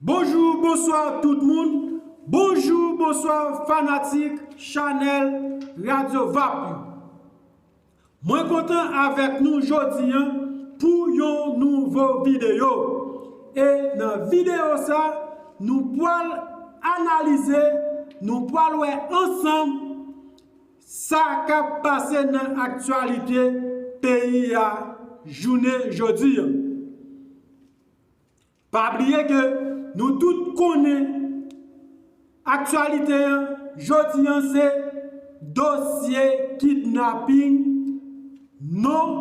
Bonjou bonswa tout moun bonjou bonswa fanatik chanèl radyo vap yo mwen kontan avèk nou jodi an pou yon nouvo videyo e nan videyo sa nou pwal analize nou pwal wè ansanm Sa kap pase nan aktyalite peyi a jounen jodi. Pa bliye ke nou tout konnen aktyalite an jodi an se dosye kidnaping non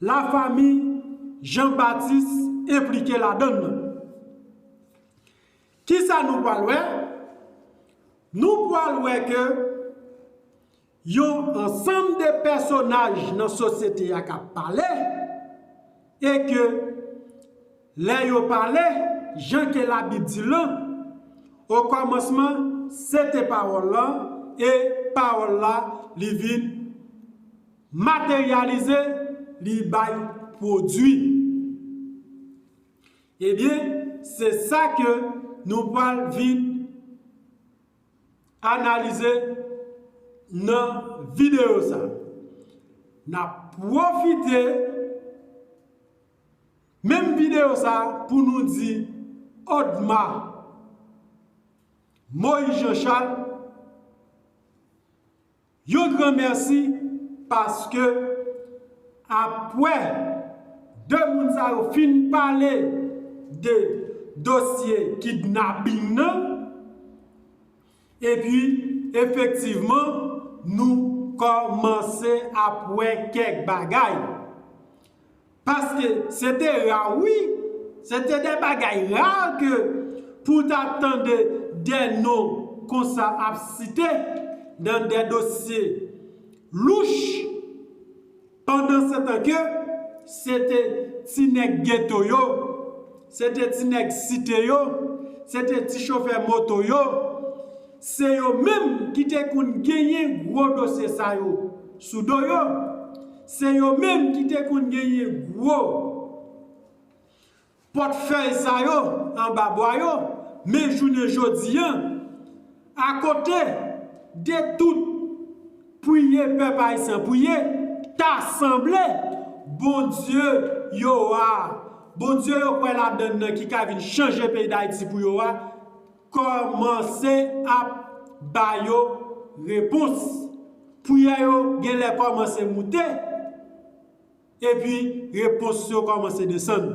la famiy Jean Baptiste enplike ladann nan. Kisa nou pwal wè? Nou pwal wè ke yon ansanm de pèsonaj nan sosyete a kap pale, e ke lè yo pale, jan ke labib di lan, o kòmansman se te pawòl lan, e pawòl la li vin materyalize, li bay pwodwi. Ebyen, se sa ke nou pral vin analize nan videyo sa. N ap pwofite menm videyo sa pou nou di Odma Moyiz Janchal Yon gran mèsi paske apwè 2 moun sa yo fin pale de dosye kidnaping nan epi efektivman nou kòmanse ap wè kèk bagay. Paske se te ra wi, se te de bagay rare ke pou w ta tande de non konsa ap site nan de dosye louch. Pandansetan ke se te ti nèg geto yo, se te ti nèg site yo, se te ti chofè moto yo, se yo menm ki te konn genyen gwo dosye sa yo sou do yo. Se yo menm ki te konn genyen gwo pòt fèy sa yo anba bwa yo, men jounen jodi an, akote de tout priye pèp ayisyen priye, ta sanble Bondye yo a, Bondye yo kwè ladann nan ki ka vin chanje peyi Dayiti pou yo a, Kòmanse ap ba yo repons. Priyè yo gen lè kòmanse moute, epi repons yo kòmanse desann.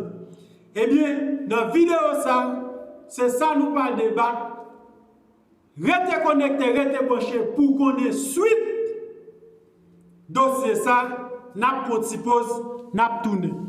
Ebyen, nan videyo sa, se sa nou pral debat. Rete konekte, rete branche pou w konnen swit dosye sa. N ap pran yon ti poz, n ap tounen.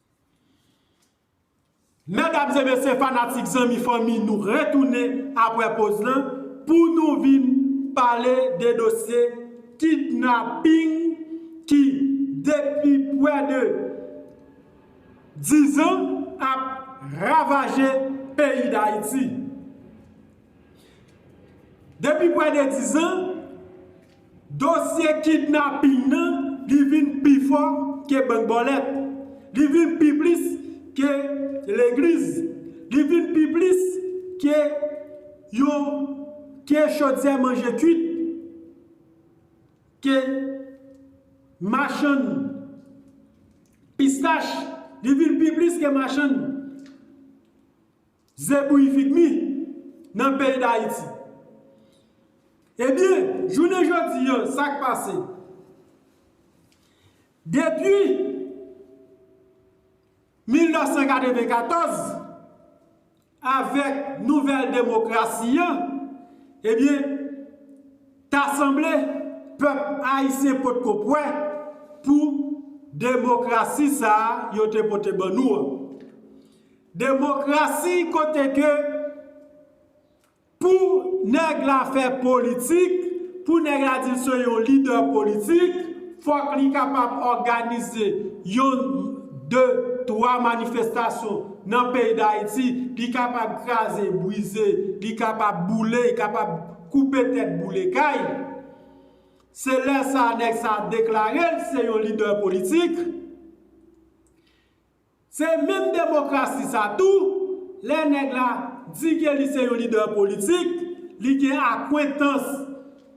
Medam e mesye fanatik zanmi fanmi nou retounen apre poz lan pou nou vin pale de dosye kidnaping ki depi pwè de 10 an ap ravaje peyi dayiti. Depi pwè de dizan, dosye kidnaping nan li vin pi fò ke bank bòlèt, li vin pi plis ke legliz, li vin pi plis ke yon ke chodyè manje kuit, ke machann pistach, li vin pi plis ke machann. Ze bouyi vit mi nan peyi dayiti. Ebyen jounen jodi an sak pase? Depi 1994 avèk nouvèl demokrasi an ebyen ta sanble pèp ayisyen potko pwè pou demokrasi sa yo te pote ban nou an. Demokrasi kote ke pou nèg la fè politik, pou nèg la di l se yon lidè politik, fòk li kapab òganize yon, de, twa manifestasyon nan peyi Dayiti, li kapab kraze, brize, li kapab boule, li kapab koupe tèt boule kay. Se lè sa a nèg sa a deklare l se yon lidè politik. Se menm demokrasi sa tou, lè nèg la di ke li se yon lidè politik, li gen akwentans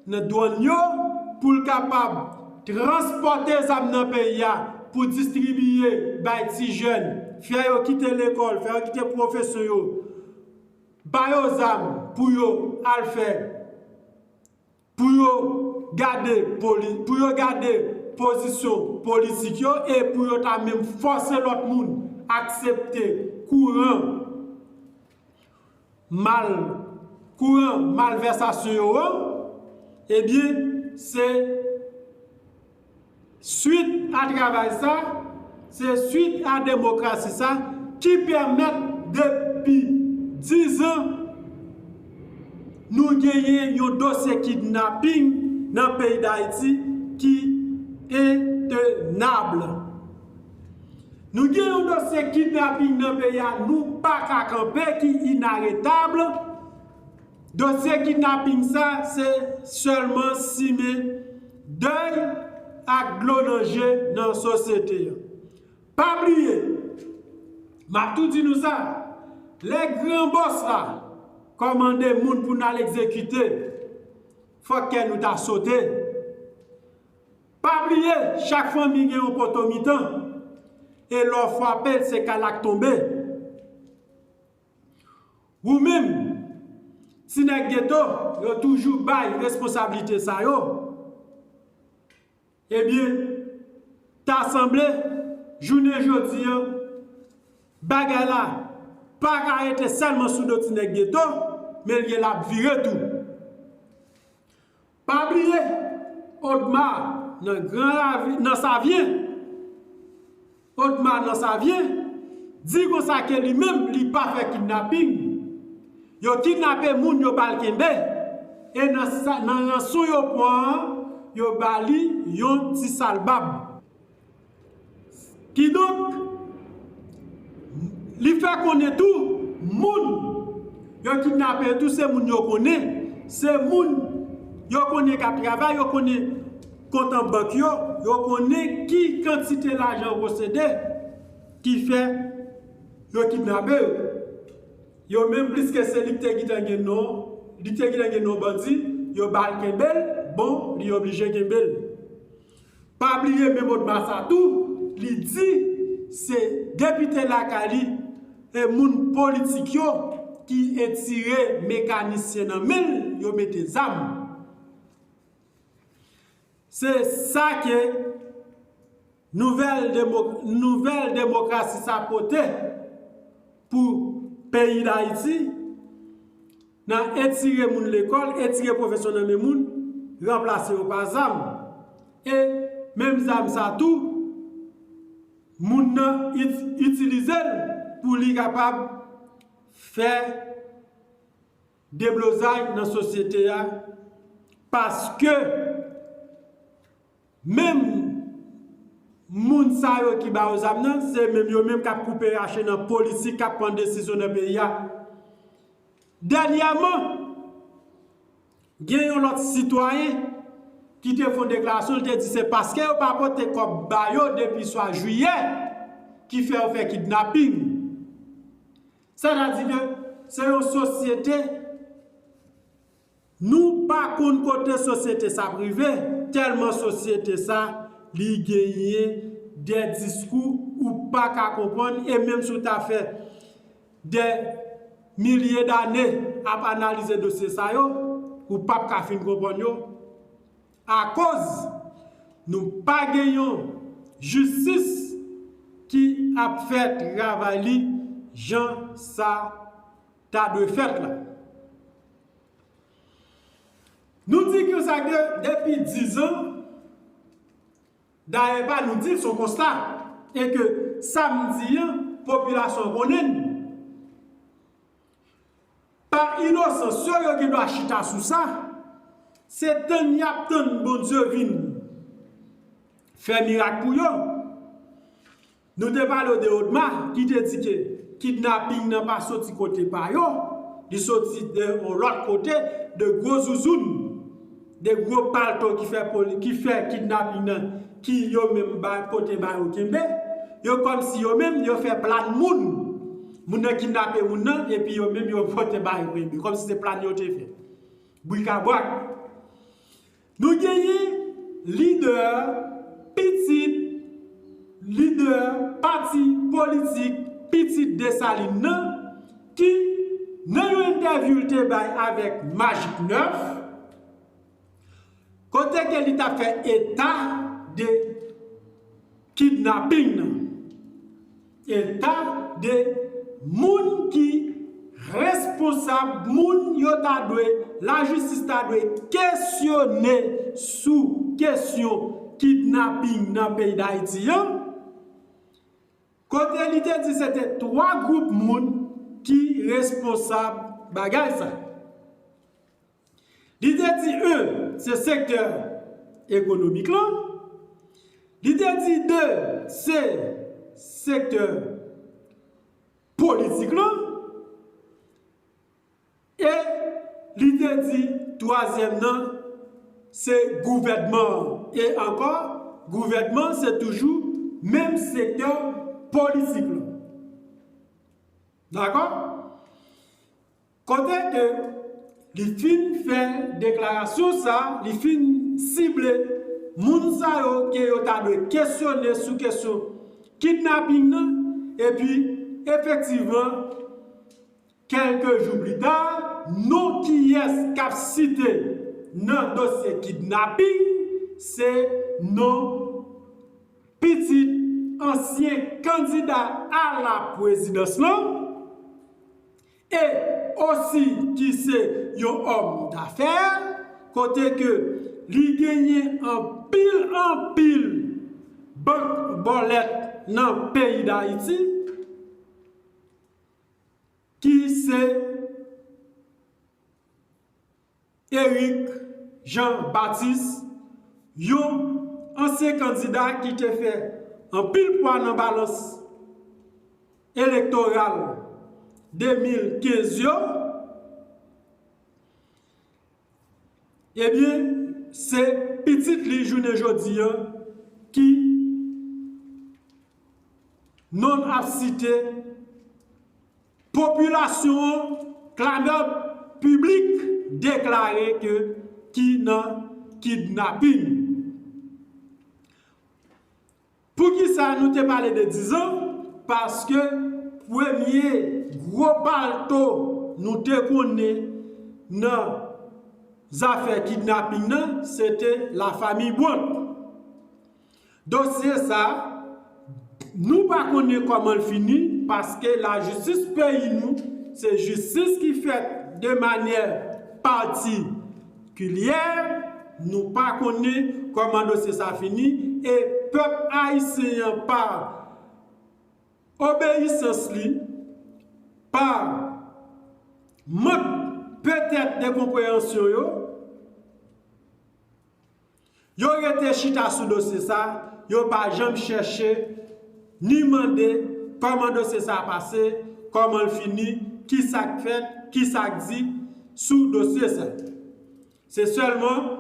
nan dwann yo pou l kapab transpòte zam nan peyi a pou distribiye bay ti jèn, fè yo kite lekòl, fè yo kite pwofesyon yo, ba yo zam pou yo al fè. Pou yo gade poli, pou yo gade pozisyon politik yo e pou yo ta menm fòse lòt moun aksepte kouran mal, kouran malvèsasyon yo an, ebyen se. Swit a travay sa, se swit a demokrasi sa ki pèmèt depi 10 an nou genyen yon dosye kidnapping nan peyi Dayiti ki intenab. Nou gen yon dosye kidnapping nan peyi a nou pa ka kanpe ki inaretab. Dosye kidnaping sa se sèlman simen dèy ak dlo nan je nan sosyete an. Pa bliye, m ap tou di nou sa, lè gran bòs la kòmande moun pou n al egzekite, fòk kè nou ta sote. Pa bliye, chak fanmi gen yon poto mitan, e lè w fwape l se kal ak tonbe. Wou menm, ti nèg geto, yo toujou bay responsablite sa yo, ebyen, ta sanble, jounen jodi an, bagay la, pa ka rete sèlman sou do ti nèg geto, men l gen l ap vire tou. Pa bliye odma nan gran ravin nan savyen odma nan savyen di konsa ke li menm li pa fè kidnaping yo kidnape moun yo bal kenbe e nan ranson yo pwan yo bali yon ti sal bab. Kidonk, li fè konnen tou, moun yo kidnape yo tou se moun yo konnen, se moun yo konnen k ap travay, yo konnen kont an bank yo, yo konnen ki kantite lajan yo posede ki fè yo kidnape yo. Yo menm piske se li ki te gentan gen non, li te gentan gen non bandi, yo ba l kenbe l, bon, li oblije kenbe l. Pa bliye men Bodma sa tou, li di se depite lakay li e moun politik yo ki etire mekanisyen nan men l yo mete zam. Se sa ke nouvèl demokrasi sa pote pou peyi Dayiti. Nan etire moun lekòl, etire pwofesyon nan men moun, ranplase yo pa zam. E, menm zam sa tou, moun nan itilize l pou li kapab fè deblozay nan sosyete a paske. Menm Moun sa yo ki ba yo zam nan se menm yo menm kap koupe rache nan politik kap pran desizyon nan peyi a dènyèman gen yon lòt sitwayen ki te fon deklarasyon li te di se paske yo pa pote kòb ba yo depi swa jiyè ki fè yo fè kidnaping sètadi ke se yon sosyete. Nou pa konn kote sosyete sa ap rive, tèlman sosyete sa li genyen dè diskou ou pa ka konprann e menm si w ta fè dè milye dane ap analize dosye sa yo, ou p ap ka fin konprann yo akoz nou pa gen yon jistis ki ap fè travay li jan sa. ta dwe fèt la. Nou di konsa ke depi 10 an, dayè pa nou di l son konsta, e ke sa m di an, popilasyon an konnen l. Pa inosan, sè yo gen dwa chita sou sa, se tann y ap tann Bondye vin fè mirak pou yo. Nou te pale w de Odma ki te di ke kidnaping nan pa soti kote pa yo, li soti de yon lòt kote, de gwo zouzoun, de gwo palto ki fè poli, ki fè kidnaping nan ki yo menm ba pote ba yo kenbe. Yo kòm si yo menm yo fè plan moun, moun nan kidnape moun nan epi yo menm yo pote ba yo kenbe. Kòm si se plan yo te fè. Brikabrak. Nou genyen lidè, pitit lidè pati politik pitit Desalin nan ki, nan yon entèvyou l te bay avèk Magic 9, kote ke li t ap fè eta de. Kidnaping nan eta de moun ki responsab moun yo ta dwe lajistis ta dwe kesyone sou kesyon kidnaping nan peyi dayiti an kote li te di se te 3 gwoup moun ki responsab bagay sa. Li te di 1 se sektè ekonomik lan, li te di 2 se sektè politik lan, e li te di twazyèm nan se gouvènman an. E ankò, gouvènman an se toujou menm sektè politik lan. Dakò? Kote ke li fin fè deklarasyon sa, li fin sible moun sa yo ke yo ta dwe kesyone sou kesyon kidnaping nan, epi efektivman kèlke jou pli ta, non kiyès k ap site nan dosye kidnaping, se non pitit ansyen kandida a la pwezidans lan, e osi ki se yon òm dafè, kote ke li genyen anpil anpil bank bòlèt nan peyi Dayiti, ki se. Eric Jean Baptiste, yon ansyen kandida ki te fè anpil pwa nan balans elektoral 2015 yo, ebyen se pitit li jounen jodi an ki non ap site. Popilasyon an, klamèd piblik deklare ke ki nan kidnaping. Poukisa nou te pale de dizan? Paske premye gwo palto nou te konnen nan zafè kidnaping nan, se te lafamiy Brandt. Dosye sa, nou pa konnen kòman l fini paske lajistis peyi nou se jistis ki fèt de manyè patikilyè, nou pa konnen kòman dosye sa fini e pèp ayisyen an pa obeyisans li, pa mank petèt de konpreyansyon yo, Yo rete chita sou dosye sa, yo pa janm chèche ni mande kòman dosye sa pase, kòman l fini, ki sa k fèt, ki sa k di sou dosye sa. Se sèlman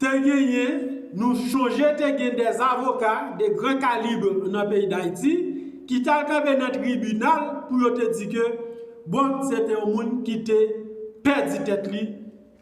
te genyen, nou chonje te gen de avoka de gran kalibre nan peyi Dayiti ki t al kanpe nan tribinal pou yo te di ke bon se te yon moun ki te pèdi tèt li,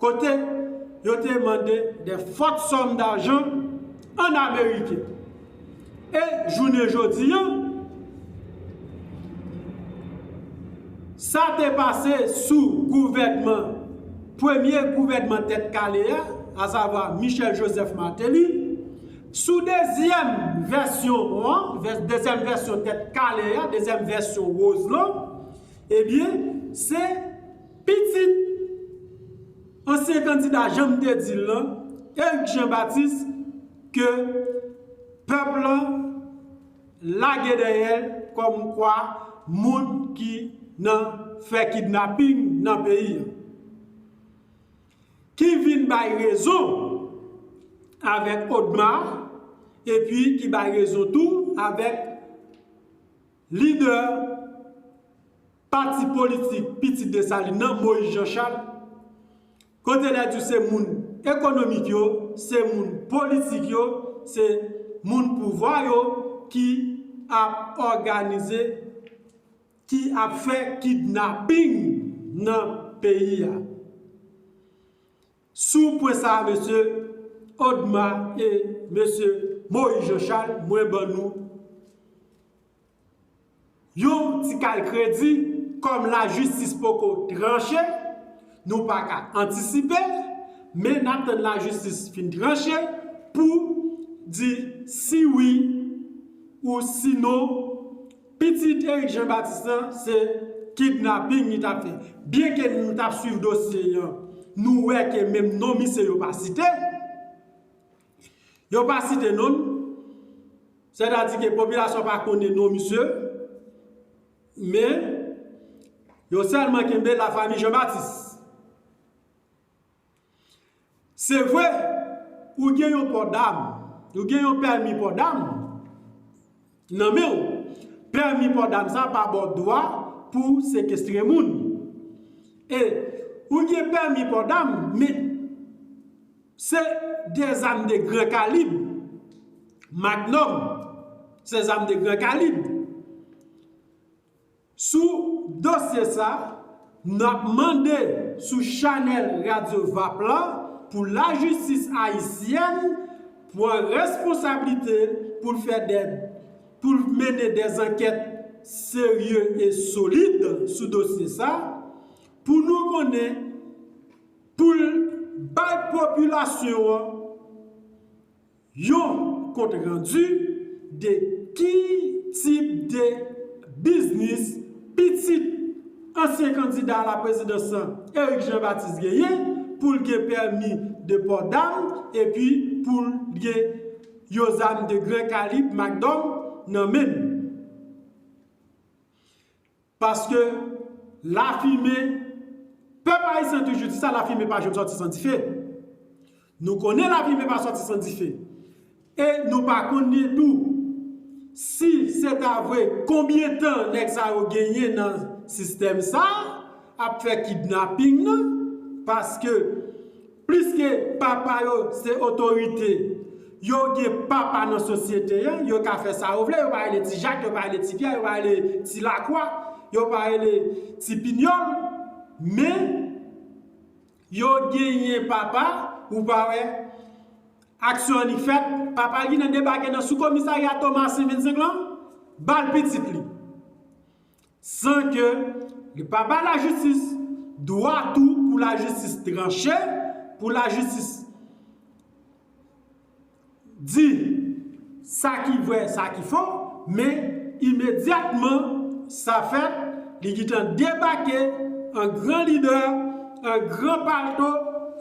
kote yo te mande de fòt sòm dajan an ameriken e jounen jodi an sa te pase sou gouvènman premye gouvènman tèt kale a asavwa Michel Joseph Martelly sou dezyèm vèsyon an dezyèm vèsyon tèt kale a dezyèm vèsyon Roselon ebyen se Pitit ansyen kandida janm te di l lan, Eric Jean Baptiste ke pèp lan lage dèyè l kòm kwa moun ki nan fè kidnaping nan peyi a. Ki vin bay rezon avèk Odmar epi ki bay rezon tou avèk lidè. Pati politik pitit Desalin nan, Moyiz Janchal, kote lè di w se moun ekonomik yo, se moun politik yo, se moun pouvwa yo ki ap òganize, ki ap fè kidnaping nan peyi a. Sou pwen sa a mesye Odma e mesye Moyiz Janchal, mwen ban nou. Yon ti kal kredi, kòm lajistis poko tranche, nou pa ka antisipe l, men n ap tann lajistis fin tranche pou di si wi ou si non pitit Eric Jean Baptiste lan se kidnaping li t ap fè. Byenke nou t ap swiv dosye an, nou wè ke menm non misye yo pa site. Yo pa site non l, sètadi ke popilasyon pa konnen non misye, men, yo sèlman kenbe la fami Jean Baptiste. Se vre, ou gen yon pò dam, ou gen yon pèmi pò dam, Nan menw. Pèmi paw dam sa pa baw dwa pou w sekestre moun. E ou gen pèmi paw dam men se de zam de gran kalib. Magnum se zam de gran kalib. Sou dosye sa, nap mande sou chanèl radyo vap la pou lajistis ayisyèn pwan responsablite pou l fè dè pou l mennen dè zankèt serye e solid sou dosye sa pou nou konnen pou l bay popilasyon an Yon kont randu de ki tip de biznis pitit ansyen kandida a la prezidans lan, Eric Jean Baptiste genyen pou l gen pèmi de pò dam epi pou l gen yon zam de gran kalib Mac Dom nan men l. Paske lafimen, pèp ayisyen toujou di sa lafimen pa janm sòti san dife. Nou konnen lafimen pa sòti san dife. E nou pa konnen tou si se ta vre konbyen tan nèg sa yo genyen nan sistèm sa ap fè kidnaping nan paske Pliske papa yo se otorite, yo gen papa nan sosyete an, yo ka fè sa yo vle, yo pa rele ti Jak, yo pa rele ti Pyè, yo pa rele ti Lakwa, yo pa rele ti Pinyòl, men, yo genyen papa, ou pa wè, aksyon annik fèt, papa Ginen debake nan sou komisarya Tomasen 25 lan, ba l pitit li. San ke li pa bay lajistis dwa tou pou lajistis tranche, pou lajistis di sa ki vrè, sa ki fo, men imedyatman sa fèt, li gentan debake an gran lidè, an gran palto,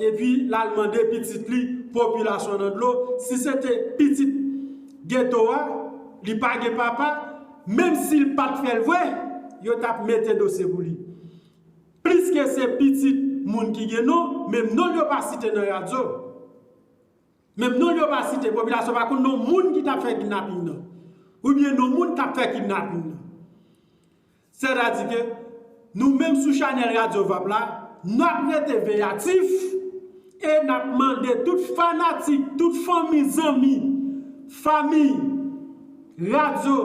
epi l al mande pitit li, popilasyon nan dlo, si se te pitit geto a, li pa gen papa, Menm si l pa t fè l vre, yo t ap mete dosye pou li. Pliske se pitit moun ki gen non, menm non l yo pa site nan radyo. Menm non l yo pa site, popilasyon pa konn non moun ki t ap fè kidnaping nan. Oubyen non moun k ap fè kidnaping nan. Sètadi ke. Nou menm sou chanèl Radyo Vap la, n ap rete veyatif e n ap mande tout fanatik, tout fanmi, zanmi, fami Radyo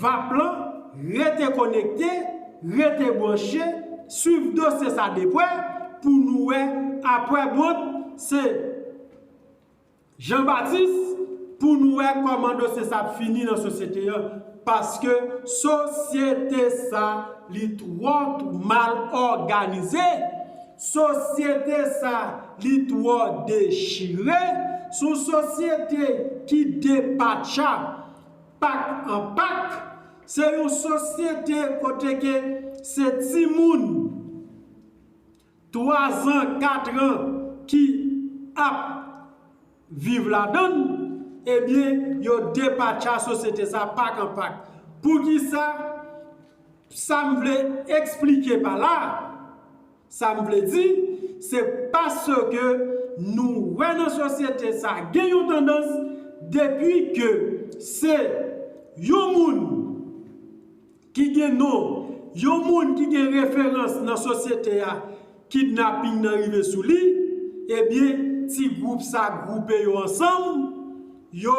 Vap lan rete konekte, rete branche, swiv dosye sa de pwè pou nou wè apwè bwont se. Jean Baptiste, Pou nou wè kòman dosye sa ap fini nan sosyete an, paske sosyete sa li twò mal òganize, sosyete sa li twò dechire, se yon sosyete ki depatcha pak an pak, se yon sosyete kote ke se timoun. 3 zan, 4 ran ki ap viv ladan l, ebyen yo depatcha sosyete sa pak an pak. Poukisa? Sa m vle esplike pa la, sa m vle di, se paske nou wè nan sosyete sa gen yon tandans depi ke se yon moun Ki gen non Yon moun ki gen referans nan sosyete a kidnaping nan rive sou li ebyen ti gwoup sa gwoupe yo ansanm yo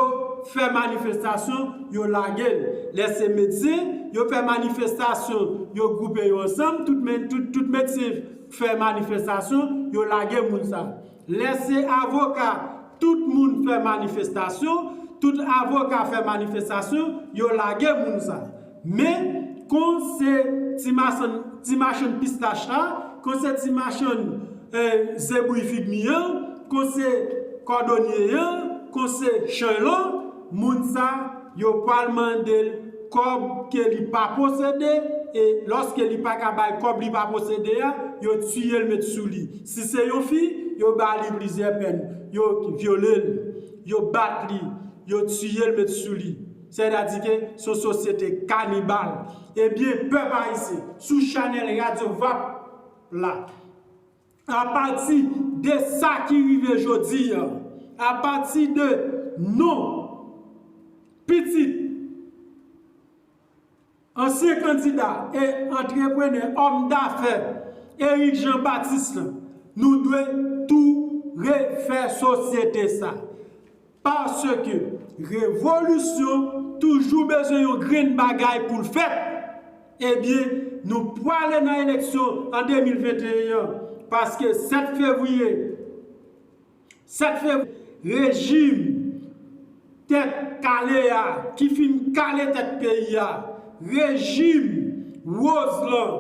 fè manifestasyon yo lage l lè se medsen yo fè manifestasyon yo gwoupe yo ansanm tout medsen fè manifestasyon yo lage moun sa. Lè se avoka, tout moun fè manifestasyon, tout avoka fè manifestasyon, yo lage moun sa. Men, kon se ti machann, ti machann pistach la, kon se ti machann zebouy fig mi an, kon se kòdonye an, kon se chenlò, Moun sa yo pwal mandel kòb ke li pa posede e lòske li paka bay kòb li pa posede a, yo tiyel met sou li. Si se yon fi, yo ba li plizyè pèn. Yo vyolel, yo bat li, yo tiyel met sou li. Sètadike son sosyete kanibal. Ebyen pèp ayisyen, sou chanèl Radio Vap la. Apati de sa ki rive jodi a, apati de non pitit ansyen kandida e antreprenè, òm dafè Eric Jean Baptiste la, nou dwe tou refè sosyete sa. Paske revolisyon toujou bezwen yon grenn bagay pou l fèt. Ebyen, nou pwale nan eleksyon an 2021 an. Paske 7 fevriye, 7 fevriye, rejim tèt kale a ki fin kale tèt peyi a, rejim woz lan,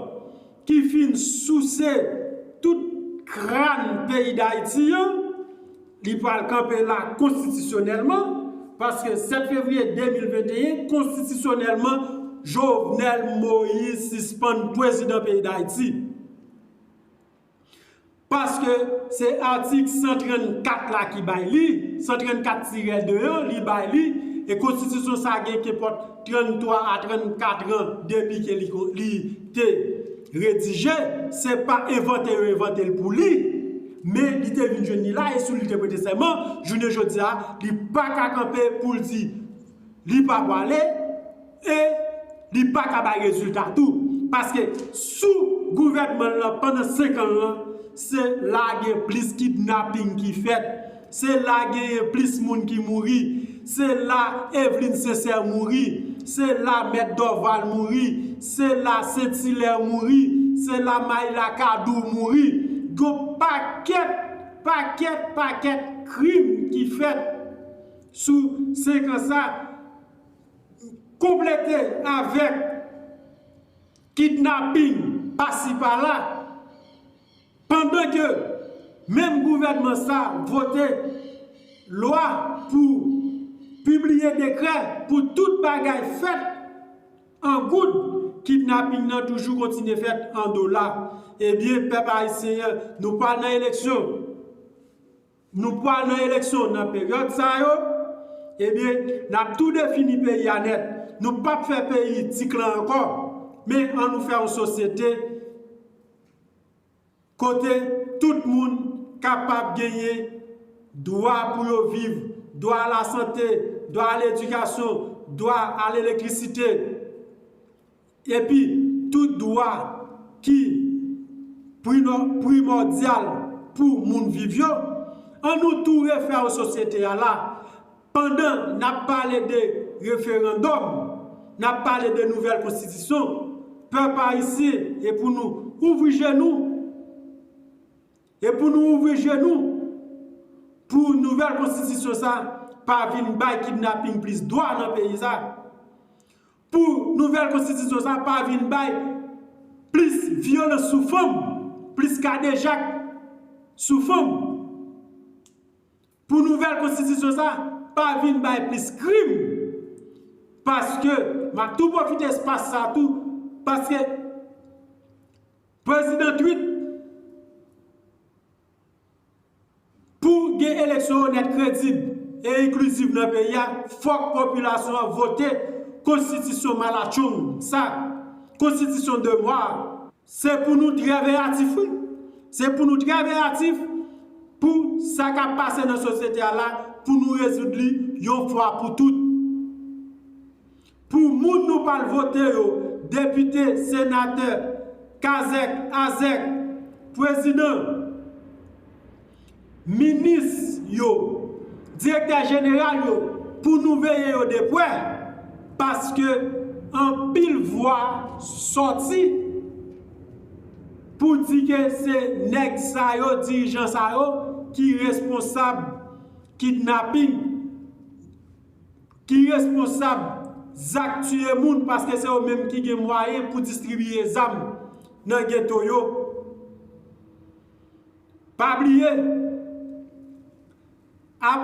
ki fin souse tout krann peyi dayiti an, li pral kanpe la konstitisyonèlman, paske 7 fevriye 2021 konstitisyonèlman Jovenel Moïse sispann pwezidan peyi dayiti. Paske, se atik 134 la ki bay li, 134 tirè 2 an, li bay li, e konstitisyon sa gen kenpòt 33 a 34 an depi ke li li te redije, se pa envante yo envante l pou li, men li te vin jwenn li la e sou li te prete sèman, jounen jodi a, li pa ka kanpe pou l di li pa pwale. E li pa ka bay rezilta tou. Paske sou gouvènman l lan pandan 5 an l lan, se la gen plis kidnaping ki fèt, se la genyen plis moun ki mouri, se la Evelyne Sincère mouri, se la Mèt Dorval mouri, se la Saint Hilaire mouri, se la Maïla Cadour mouri. Gon pakèt, pakèt, pakèt krim ki fèt sou 5 an sa. Konplete avèk kidnaping pasi pala, pandan ke menm gouvènman sa vote lwa pou pibliye dekrè pou tout bagay fèt an goud, kidnaping nan toujou kontinye fèt an dola. Ebyen pèp ayisyen an, nou pral nan eleksyon. Nou pwal nan eleksyon nan peryòd sa yo, ebyen nap tou defini peyi a nèt. Nou pap fè peyi ti klan ankò, men an nou fè yon sosyete kote tout moun kapab genyen dwa pou yo viv, dwa a la sante, dwa a ledikasyon, dwa a lelektrisite. Epi, tout dwa ki primòdyal pou moun viv yo, an nou tou refè w sosyete a la, pandan n ap pale de referandòm, n ap pale de nouvèl konstitisyon, pèp ayisyen e pou nou ouvri je nou, e pou nou ouvri je nou pou nouvèl konstitisyon sa pa vin bay kidnaping plis dwa nan peyi sa. Pou nouvèl konstitisyon sa a pa vin bay plis vyolans sou fanm, plis kadejak sou fanm, pou nouvèl konstitisyon sa a pa vin bay plis krim, paske m ap tou pwofite espas sa a tou, paske prezidan Tweet Pou gen eleksyon onèt kredib e enkliziv nan peyi a fòk popilasyon an vote konstitisyon malatchong sa konstitisyon de mwa a. Se pou nou trè veyatif wi, se pou nou trè veyatif pou sa kap pase nan sosyete a la pou nou rezoud li yon fwa pou tout. Pou moun nou pral vote yo, depite, senatè, kazèk, azèk, pwezidan, minis yo, direktè jeneral yo, pou nou veye yo de pwè, paske anpil vwa sòti pou di ke se nèg sa yo, dirijan sa yo, ki responsab kidnaping ki responsab zak tiye moun paske se yo menm ki gen mwayen pou distribiye zam nan geto yo pa bliye ap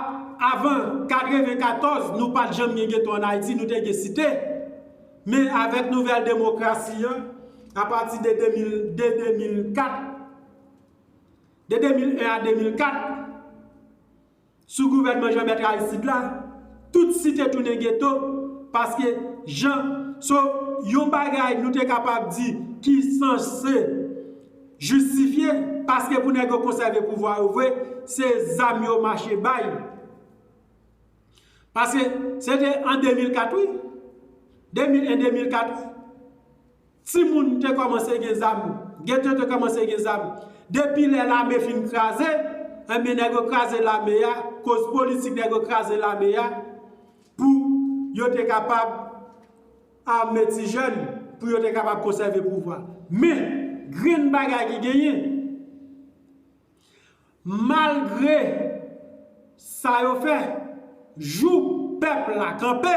avan 94 nou pat janm gen geto an ayiti nou te gen site men avèk nouvèl demokrasi an apati de 2004 de 2001 a 2004 Sou gouvènman Jean Bertrand Aristide la, tout site tounen geto, paske jan, so, yon bagay nou te kapab di ki sanse jistifye, paske pou nèg yo konsève pouvwa yo vre, se zam yo mache bay. Paske, se te an 2004 wi, 2001-2004 wi. Timoun te kòmanse gen zam, ghetto te kòmanse gen zam. Depi lè lame fin kraze, enben nèg yo kraze lame a, koz politik nèg yo kraze lame a pou yo te kapab ame ti jèn, pou yo te kapab konsève pouvwa. Men, grenn bagay ki genyen. Malgre sa yo fè, jou pèp la kanpe,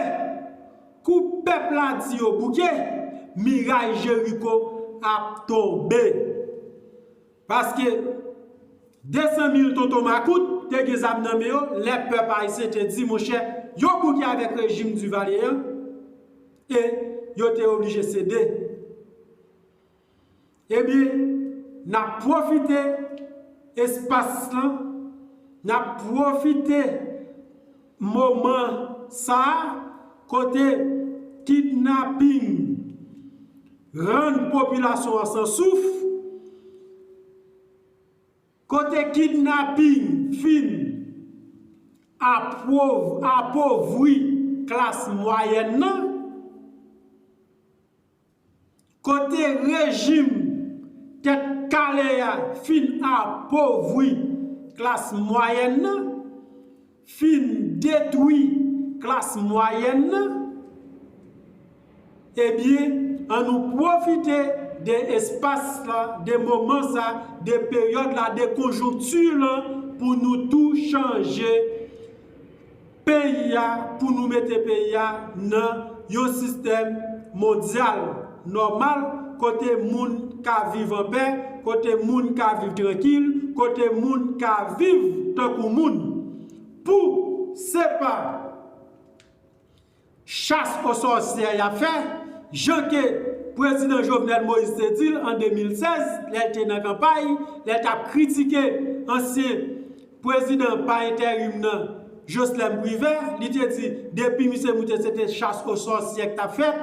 kou pèp la di yo bouke, miray Jeriko ap tonbe. Paske, 200 mil tonton makout te gen zam nan men yo lè pèp ayisyen te di monchè yo bouke avèk rejim Duvalier an e yo te oblije sede. Ebyen, n ap pwofite espas lan, n ap pwofite moman sa a kote kidnaping rann popilasyon an san souf, kote kidnaping fin apovri klas mwayèn nan, Kote rejim tèt kale a fin apovwi klas mwayèn nan, fin detwi klas mwayèn nan, ebyen an nou pwofite de espas la, de moman sa, de peryòd la, de konjonkti lan pou nou tou chanje. Peyi a pou nou mete peyi a nan yon sistèm mondyal nòmal kote moun ka viv anpè, kote moun ka viv trankil, kote moun ka viv tankou moun. Pou se pa. Chasse aux sorcières y ap fè, jan ke Prezidan Jovenel Moïse te di l an 2016, lè l te nan kanpay, lè l t ap kritike ansyen Prezidan pa enterim nan, Joslèm Privè, li te di, depi misye moute se te chasse aux sorcières k t ap fèt,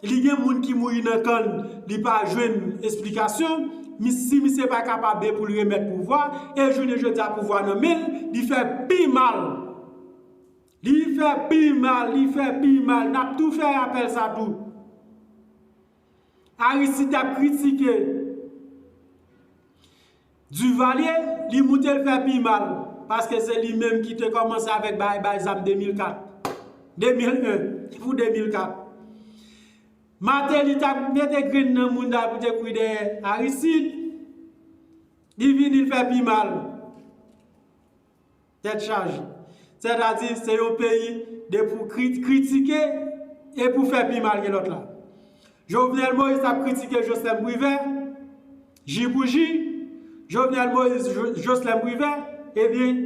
li gen moun ki mouri nan kan l, li pa jwenn esplikasyon, si misye pa kapabbe pou l remèt pouvwa, e jounen jodi a pouvwa nan men l, li fè pi mal Li fè pi mal, li fè pi mal. N ap tou fè rapèl sa tou. Aristide t ap kritike Duvalier, li moute l fè pi mal. Paske se li menm ki te kòmanse avèk bay bay zam 2004. 2001 pou 2004. Martelly t ap mete grenn nan mouda pou te kouri dèyè Aristide. Li vini l fè pi mal. Tèt chaje. Sètadi, se yon peyi de pou kritike e pou fè pi mal ke lòt la. Jovenel Moïse t ap kritike Joslèm Privè, ji pou ji, Jovenel Moïse, Joslèm Privè, ebyen,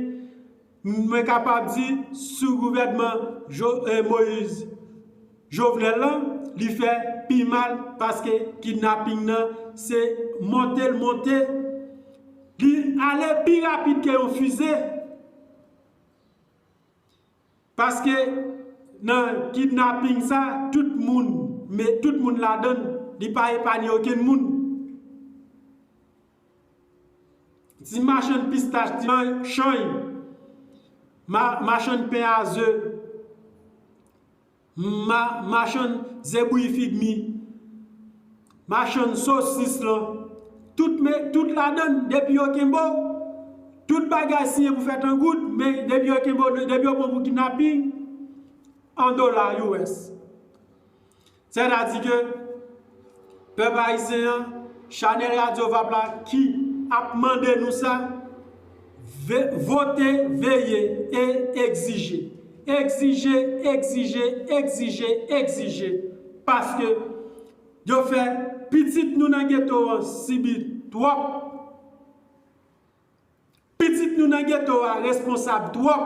mwen kapab di, sou gouvènman Moïse, Jovenel lan li fè pi mal paske kidnapping nan se monte l monte li ale pi rapid ke yon fize paske nan kidnapping sa tout moun me tout moun ladan l li pa epanye okenn moun ti machann pistach ti machann chany machann pen a ze. Humm machann ze bouyi fig mi machann sosis lan tout me tout ladann depi yo kenbew tout bagay siye pou fèt an goud men depi yo kenbew depi yo pranw pou kidnapping an dola us sètadi ke Pèp ayisyen an, chanèl radyo vap la ki ap mande nou sa, vote, veye e egzije. Egzije, egzije, egzije, egzije paske yo fè pitit nou nan geto an sibi twòp. Pitit nou nan geto a responsab twòp,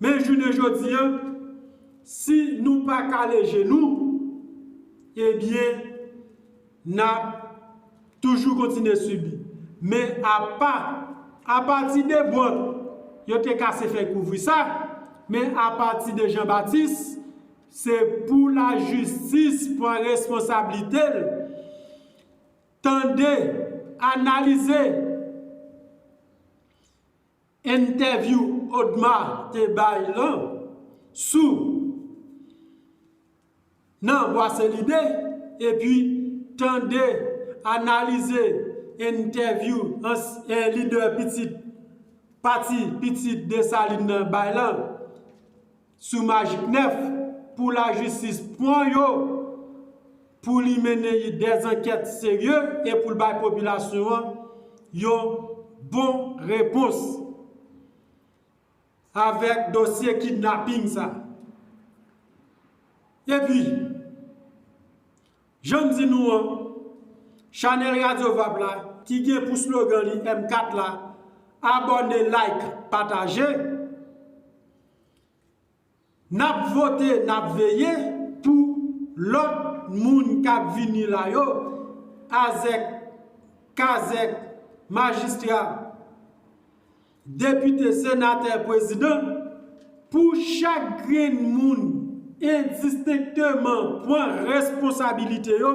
men jounen jodi an, si nou pa kale je nou, ebyen n ap toujou kontinye sibi. Men apa, apati de Bwòt, yo te kase fèy kouvri sa, men apati de Janbatis, se pou lajistis pran responsablite l. Tande, analize entèvyou Odma te bay lan sou Nan Bwase Lide epi tande, analize entèvyou lidè pitit pati pitit Desalin nan bay lan. Sou Majik 9, pou lajistis pwan yo, pou li mennen yi dè zankèt serye e pou l bay popilasyon an yon bon repons avèk dosye kidnaping sa. E pi, jan m di nou an, chanèl Radyo Vap la, ki gen pou slogan li M4 la, abòne, like, pataje, Nap vote nap veye pou lòt moun kap vini la yo azèk kazèk majistra depite senatè prezidan pou chak grenn moun endistenkteman pwan responsabilite yo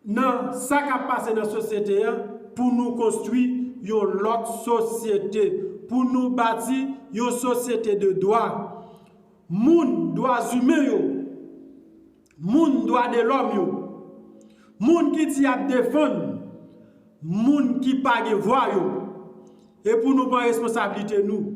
nan sa kap pase nan sosyete an pou nou konstwi yon lòt sosyete, pou nou bati yon sosyete de dwa moun, dwa zimen yo, moun dwa de lòm yo, moun ki di yap defann moun ki pa gen vwa yo, e pou nou pran responsablite nou.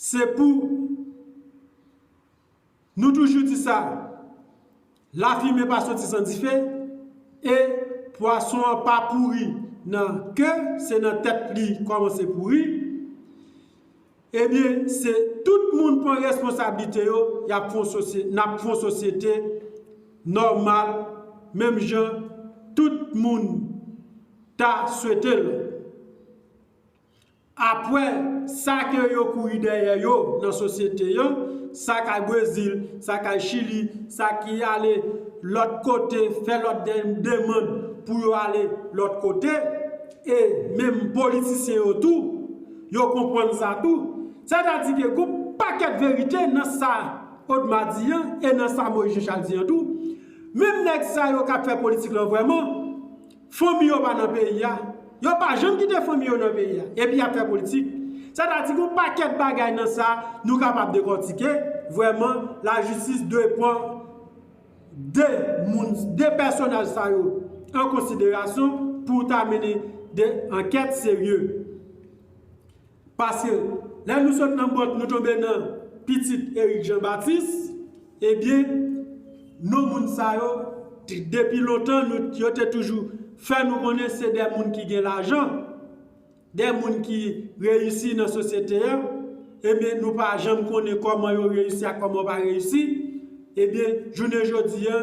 Se pou Nou toujou di sa, la fimen pa soti san dife, e pwason an pa pouri nan ke, se nan tèt li kòmanse pouri, ebyen se tout moun pran responsablite yo, nap fon sosyete nòmal, menm jan tout moun ta swete l. Apwè sa ke yo kouri dèyè yo nan sosyete an, sa kay Brezil, sa kay Chili, sa ki ale lòt kote fè lòt demand pou yo ale lòt kote, e menm politisyen yo tou, yo konpwann sa tou. Sètadi ke gon pakèt verite nan sa Odma di an e nan sa Moyiz Jechal di an tou. Menm nèg sa yo kap fè politik lan vrèman, Fanmi yo pa nan peyi a. Yo pa janm kite fanmi yo nan peyi a. Epi y ap fè politik. Sa ta di gon pakèt bagay nan sa nou kapab dekòtike. Vrèman, lajistis dwe pran 2 moun, 2 pèsonaj sa yo an konsiderasyon pou ta mennen 2 ankèt serye. Pase lè nou sot nan Bòt nou tonbe nan pitit Erik Jan Batis, ebyen non moun sa yo depi lontan nou yo te toujou fè nou konnen se de moun ki gen lajan, de moun ki reyisi nan sosyete a, ebyen nou pa janm konnen kòman yo reyisi ak kòman yo pa reyisi, ebyen jounen jodi a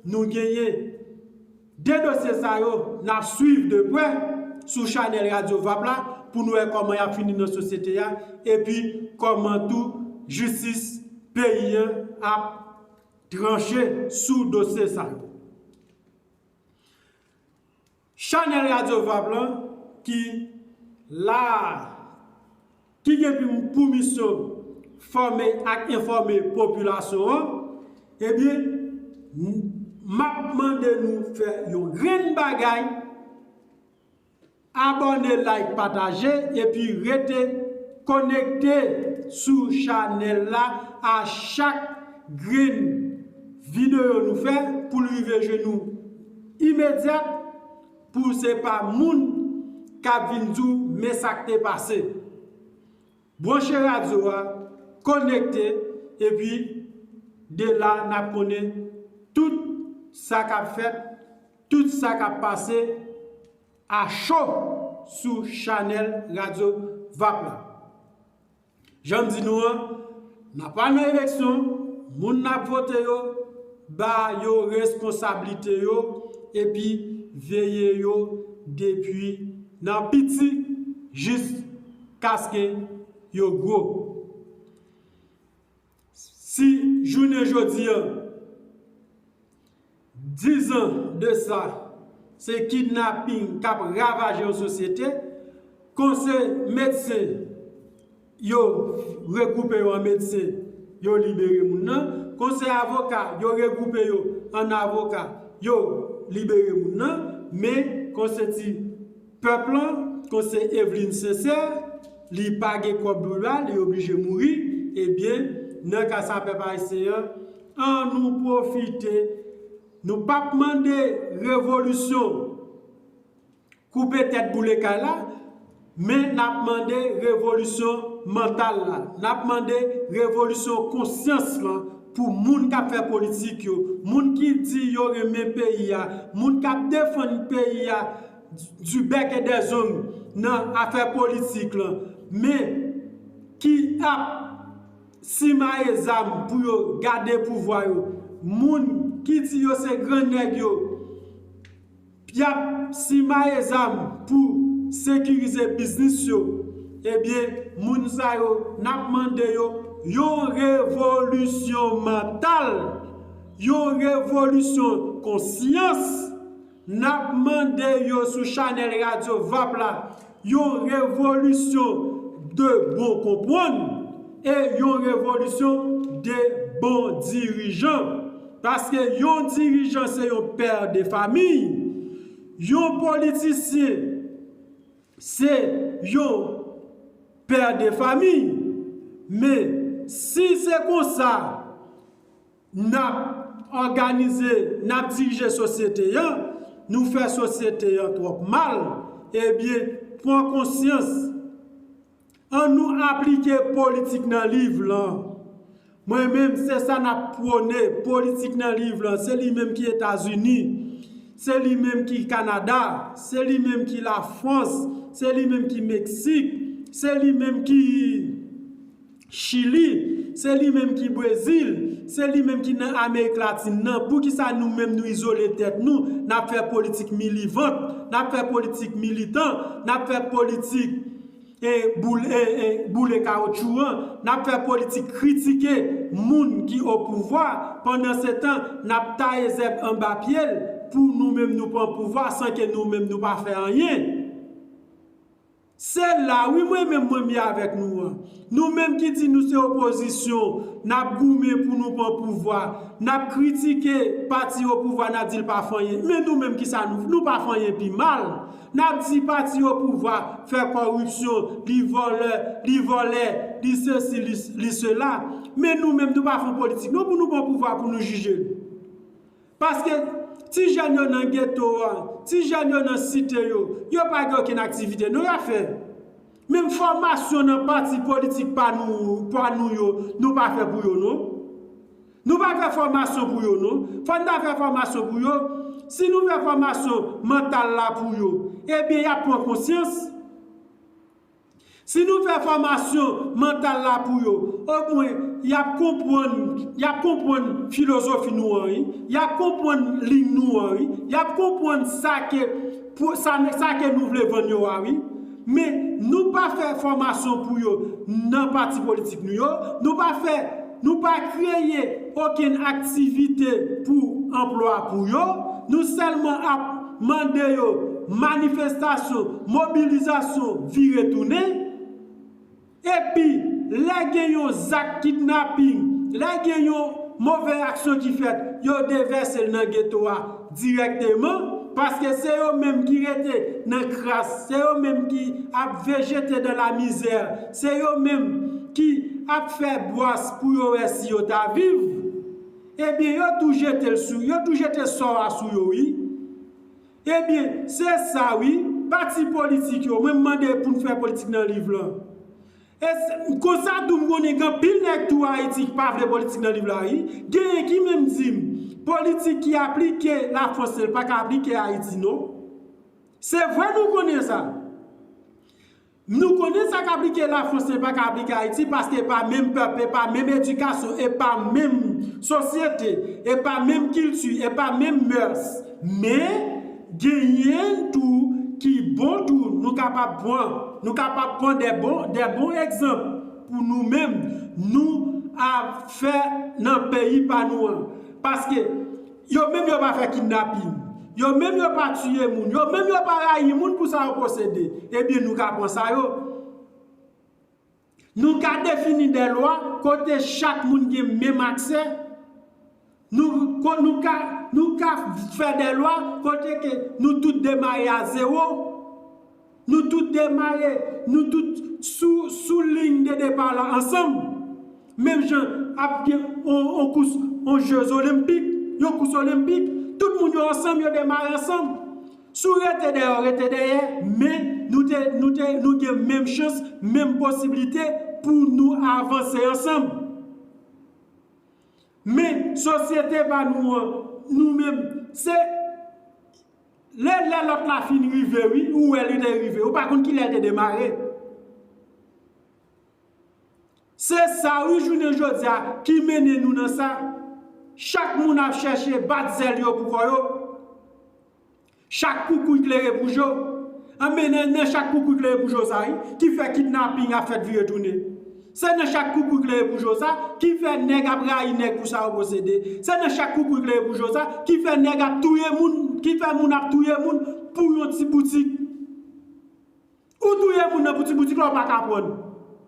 nou genyen. 2 dosye sa yo nap swiv de prè sou chanèl radyo vap la pou nou wè kòman yap fini nan sosyete a epi kòman tou jistis peyi an ap tranche sou dosye sa yo. Chanèl radyo vap lan ki la a. ki gen pou misyon fòme ak enfòme popilasyon an, ebyen, m ap mande nou fè yon grenn bagay, abòne, like, pataje, epi rete konekte sou chanèl la a chak grenn videyo nou fè pou l rive jwenn ou imedyat, Pou se pa moun kap vin di w men sa k te pase. Branche radyo a, konekte, epi de la n ap konnen tout sa k ap fèt, tout sa k ap pase a cho sou chanèl radyo vap la. Jan m di nou an, n ap al nan eleksyon, moun n ap vote yo, ba yo responsablite yo epi veye yo depi nan piti jiskaske yo gwo. Si jounen jodi an, dizan de sa, se kidnaping k ap ravaje yon sosyete, kon se medsen, yo regwoupe yo an medsen, yo libere moun nan, kon se avoka, yo regwoupe yo an avoka, yo libere moun nan, men kon se ti. Pèp lan kon se Evelyne Sincère li pa gen kòb pou la li oblije mouri ebyen nan ka sa pèp ayisyen an an nou pwofite nou pap mande revolisyon koupe tèt boule kay la men nap mande revolisyon mantal la nap mande revolisyon konsyans lan pou moun kap fè politik yo moun ki di yo renmen peyi a moun kap defann peyi a du bec et des ongles nan afè politik lan men ki ap simaye zam pou yo gade pouvwa yo moun ki di yo se gran nèg yo yap simaye zam pou sekirize biznis yo ebyen moun sa yo nap mande yo yon revolisyon mantal yon revolisyon konsyans Nap mande yo sou chanèl radyo vap la yon revolisyon de bon konpwann e yon revolisyon de bon dirijan paske yon dirijan se yon pè de famiy yon politisyen se yon pè de famiy men si se konsa N ap òganize, n ap dirije sosyete an, nou fè sosyete an twòp mal, ebyen, pran konsyans, an nou aplike politik nan liv lan. Mwen menm, se sa n ap pwone, politik nan liv lan, se li menm ki Etazini, se li menm ki Kanada, se li menm ki Lafwans, se li menm ki Meksik, se li menm ki. Chili, se li menm ki Brezil, se li menm ki nan Amerik Latin nan, poukisa nou menm nou izole tèt nou, n ap fè politik milivant, n ap fè politik militan, n ap fè politik e boule kawotchou an, n ap fè politik kritike moun ki o pouvwa, pandan se tan n ap taye zèb anba pye l pou nou menm nou pran pouvwa san ke nou menm nou pa fè anyen. Se la wi mwen menm mwen mye avèk nou an. Nou menm ki di nou se opozisyon, nap goumen pou nou pan pouvwa, nap kritike pati opouvwa nap dil pa fanyen, men nou menm kisa nou fè, nou pa fanyen pi mal. Nap di pati opouvwa fè kòripsyon, li vòlè, li vòlè, li sesi, li sela. Men nou menm nou pa fon politik non pou nou pran pouvwa pou nou jijel. Paske, ti jèn yo nan geto a, ti jèn yo nan site yo, yo pa gen okenn aktivite non y ap fè. Menm fòmasyon nan pati politik pa nou yo, nou pa fè pou yo non. Nou pa fè fòmasyon pou yo non. Fò n ta fè fòmasyon pou yo. Si nou fè fòmasyon mantal la pou yo, ebyen y ap pran konsyans. Si nou fè fòmasyon mantal la pou yo, omwen y ap konpwann, y ap konpwann filozofi nou an wi, y ap konpwann liy nou an wi, y ap konpwann sa ke, sa ke nou vle vann yo a wi. Men, nou pa fè fòmasyon pou yo nan pati politik nou yo, nou pa fè, nou pa kreye okenn aktivite pou anplwa pou yo, nou sèlman ap. mande yo manifestasyon, mobilizasyon vire tounen, epi lè gen yon zak kidnaping, lè gen yon move aksyon ki fèt, yo devèse l nan geto a dirèkteman, paske se yo menm ki rete nan kras, se yo menm ki ap vejete dan la mizè, se yo menm ki ap fè bwàs pou yo wè si yo ta viv. Ebyen yo tou jetel sou yo tou jete sò a sou yo wi ebyen se sa wi pati politik yo mwen mande poun fè politik nan liv lan e konsa tou m konnen gen anpil nèg tou ayiti ki pa vle politik nan liv la wi genyen ki menm dim politik ki aplike la france l paka aplike ayiti non se vre nou konnen sa. Nou konnen sa k aplike Lafrans men pa ka aplike Ayiti paske e pa menm pèp, e pa menm edikasyon, e pa menm sosyete, e pa menm kilti, e pa menm mœurs. Men, genyen tou ki bon tou nou kapab pran. Nou kapab pran de bon, de bon egzanp pou nou menm nou ap fè nan peyi pa nou an. Paske. Yo menm yo pa fè kidnapin. Yo menm yo pa tiye moun. Yo menm yo pa rayi moun pou sa yo posede. Ebyen nou ka pran sa yo. Nou ka defini dè lwa kote chak moun gen menm aksè. Nou ka fè dè lwa kote ke nou tout demare a zewo. Nou tout demare, nou tout sou sou liy de depa la ansanm. Menm jan ap gen yon kous, yon jeux olenpik, yon kous olenpik, tout moun yo ansanm, yo demare ansanm. Si w rete dèyè, w rete dèyè, men nou te, nou te, nou gen menm chans, menm posiblite pou nou avanse ansanm. Men sosyete pa nou an, nou menm, se. Le lè lòt la fin rive wi ou wè li te rive ou pa konn kilè l te demare se sa wi jounen jodi a ki mennen nou nan sa chak moun ap chèche bat zèl yo pou kò yo chak koukouy klere pou jo anben nan chak koukouy klere pou jo sa wi ki fè kidnaping ap fèt vire tounen. Se nan chak koukouy klere pou Joza, ki fè nèg ap rayi nèg pou sa yo posede. Se nan chak koukouy klere pou Joza, ki fè nèg ap touye moun, ki fè moun ap touye moun pou yon ti boutik. Ou touye moun nan pou ti boutik la ou pa ka aprann.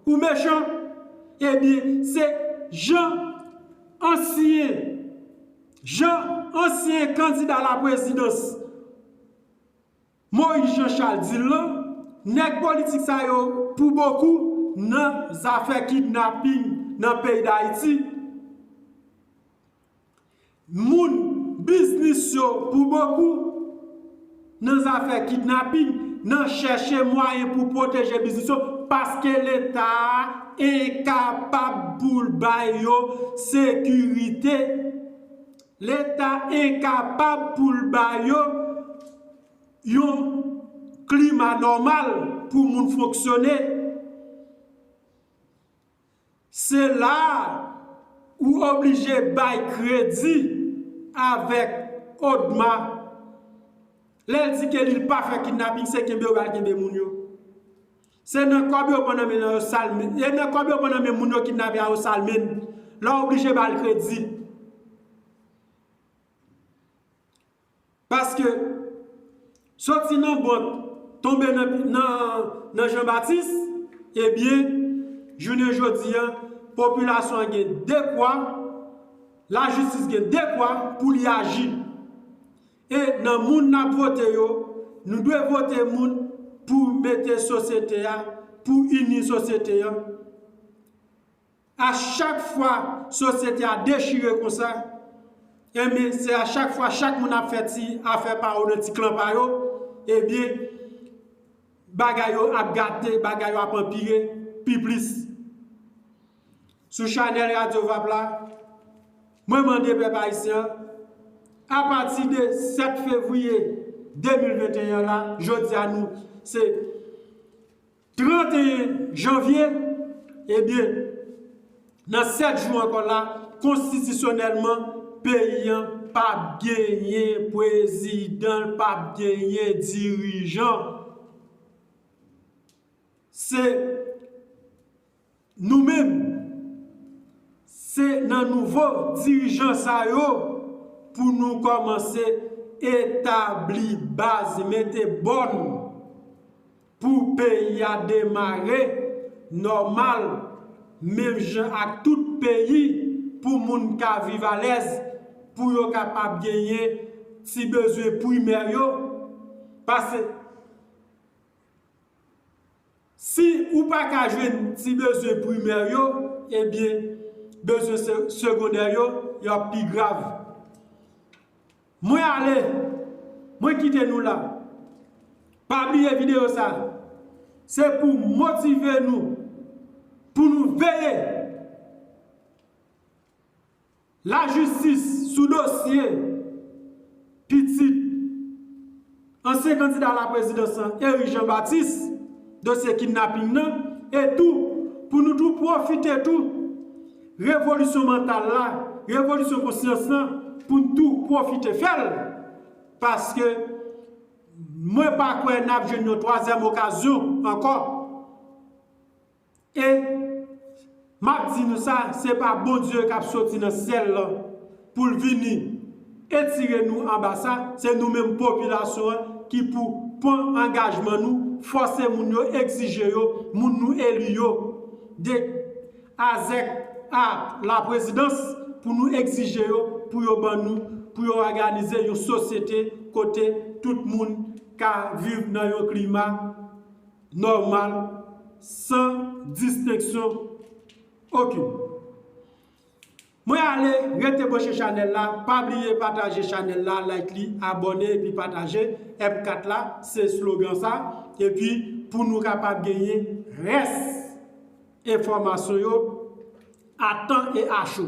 Ou mechan. Ebyen, se jan ansyen, jan ansyen kandida laprezidans. Moïse Jean Charles di l lan, nèg politik sa yo pou bokou nan zafè kidnaping nan peyi Dayiti, moun biznis yo pou bokou nan zafè kidnaping, nan chèche mwayen pou pwoteje biznis yo paske Leta a enkapab pou l bay yo sekirite. Leta enkapab pou l ba yo yon klima nòmal pou moun fonksyone. Se la a ou oblije bay kredi avèk ODMA. Lè l di ke li pa fè kidnaping, se kenbe yo ba l kenbe moun yo. Se nan kob yo pran nan men yo sal menn e nan kob yo pran nan men moun yo kidnape a yo sal menn la oblije bal kredi paske soti nan bank tonbe nan jean baptiste ebyen jounen jodi an popilasyon an gen dekwa la jistis gen dekwa pou li aji. E nan moun n ap vote yo, nou dwe vote moun pou mete sosyete a, pou ini sosyete an. A chak fwa sosyete a dechire konsa, enben se a chak fwa chak moun ap fè ti afè pa yo nan ti klan pa yo, enben bagay yo ap gate, bagay yo ap anpire pi plis. Sou chanèl Radyo Vap la, mwen mande pèp ayisyen, apati de 7 fevriye 2021 la, jodi a nou se 31 janvye, ebyen, nan 7 jou ankò la, konstitisyonèlman, peyi an pa p genyen pwezidan, l pa p genyen dirijan. Se. Nou menm, se nan nouvo dirijan sa yo pou nou kòmanse etabli baz, mete bòn pou peyi a demare nòmal menm jan ak tout peyi pou moun ka viv alèz, pou yo kapab genyen ti bezwen primè yo. Pase. Si ou pa ka jwenn ti bezwen primè yo, ebyen bezwen segondè yo, yo ap pi grav. Mwen ale, mwen kite nou la. Pa bliye videyo sa, se pou motive nou pou nou veye. Lajistis sou dosye pitit ansyen kandida alaprezidans lan Eric Jean Baptiste, dosye kidnaping nan, e tou pou nou tou pwofite tou revolisyon mantal la, revolisyon konsyans lan pou n tou pwofite fè l paske mwen pa kwè n ap jwenn yon twazyèm okazyon ankò. E, m ap di nou sa, se pa Bondye k ap soti nan syèl la pou l vini etire nou anba sa, se nou menm popilasyon an ki pou pran angajman nou, fòse moun yo, egzije yo, moun nou eli yo, de Azèk a Laprezidans, pou nou egzije yo pou yo ban nou, pou yo òganize yon sosyete kote tout moun ka viv nan yon klima. nòmal san distenksyon okin. Mwen ale rete branche chanèl la pa bliye pataje chanèl la like li abòne epi pataje MCAT la se slogan sa epi pou nou kapab genyen rès enfòmasyon yo a tan e a cho.